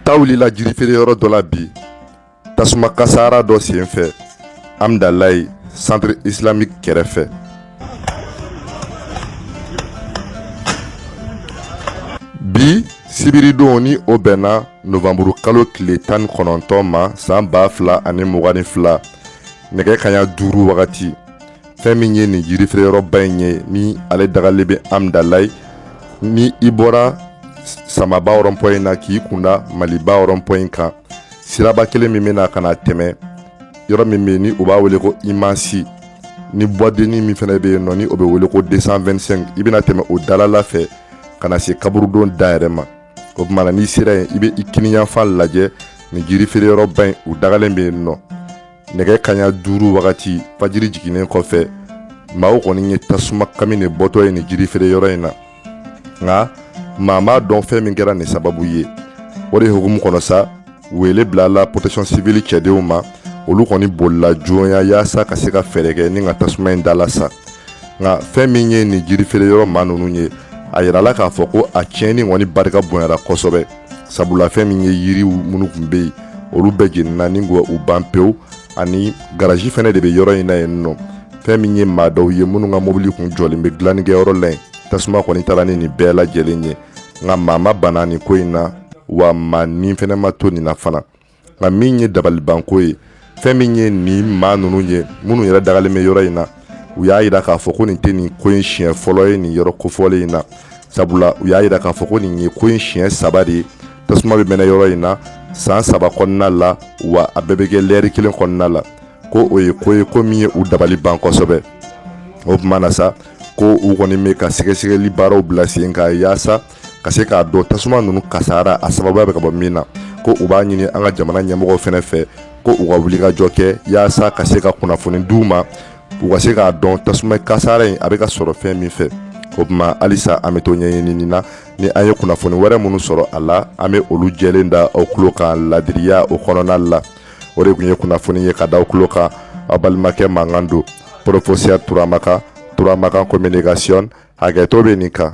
ta wulila jirifeere yɔrɔ dɔ la bi tasuma kasaara dɔ sen fɛ amdalayi centre islamique kɛrɛfɛ bi sibiridon ni o bɛnna novanburu kalo tile tan ni kɔnɔntɔn ma san ba fila ani mugan ni fila nɛgɛ kaɲa duuru wagati fɛn min ye nin yirifeereyɔrɔba in ye ni ale dagalen bɛ amdalayi ni i bɔra samaba rond-point na k'i kunda maliba rond-point kan siraba kelen min bɛna ka na tɛmɛ yɔrɔ min bɛ yen ni u b'a wele ko imansi ni boîte de nuit min fana bɛ yen nɔ ni o bɛ wele ko 225 i bɛna tɛmɛ o dalala fɛ ka na se kaburudon da yɛrɛ ma o tuma na n'i sera yen i bɛ i kiniyanfan lajɛ nin jirifeereyɔrɔba in u dagalen bɛ yen nɔ nɛgɛ kaɲa duuru wagati fajiri jiginnen kɔfɛ maaw kɔni ye tasuma kami de bɔtɔ ye nin jirifeere yɔrɔ in na nka maa m'a dɔn fɛn min kɛra nin sababu ye o de hukumu kɔnɔ sa wele bilala protection civile cɛdenw ma olu kɔni bolila joonya yaasa ka se ka fɛɛrɛ kɛ ni ka tasuma in dala sa nka fɛn min ye nin jirifeere yɔrɔ maa ninnu ye a yirala k'a fɔ ko a tiɲɛni kɔni barika bonyara kosɛbɛ sabula fɛn min ye yiriw minnu tun bɛ yen olu bɛɛ jenina ni u ban pewu ani garazi fɛnɛ de bɛ yɔrɔ in na yen nɔ fɛn min ye maa dɔw ye minnu ka mobili kun jɔlen bɛ dilannikɛ yɔrɔ la yen tasuma kɔni taara ni nin bɛɛ lajɛlen ye nka maa ma bana nin ko in na wa maa ni fɛnɛ ma to nin na fana nka min ye dabalibanko ye fɛn min ye nin maa ninnu ye minnu yɛrɛ dagalen bɛ yɔrɔ in na u y'a yira k'a fɔ ko nin tɛ nin ko in siɲɛ fɔlɔ ye nin yɔrɔ kofɔlen in na sabula u y'a yira k'a fɔ ko nin ye ko in siɲɛ saba de ye tasuma bɛ mɛnɛ yɔrɔ in na san saba kɔnɔna la wa a bɛɛ bɛ kɛ lɛri kelen kɔnɔna la ko o ye ko ye ko min ye u dabali ban kosɛbɛ o tuma na sa ko u kɔni bɛ ka sɛgɛsɛgɛli baaraw bila sen kan yaasa ka se k'a dɔn tasuma ninnu kasara a sababuya bɛ ka bɔ min na ko u b'a ɲini an ka jamana ɲɛmɔgɔw fɛnɛ fɛ ko u ka wulikajɔ kɛ yaasa ka se ka kunnafoni d'u ma u ka se k'a dɔn tasuma kasara in a bɛ ka sɔrɔ fɛn min fɛ o tuma halisa an bɛ to ɲɛɲini na ni an ye kunnafoni wɛrɛ minnu sɔrɔ a la an bɛ olu jɛlen da aw tulo kan ladiriya o kɔnɔna la o de tun ye kunnafoni ye ka da aw tulo kan aw balimakɛ mankan don professeur turamakan turamakan communication hakɛto bɛ nin kan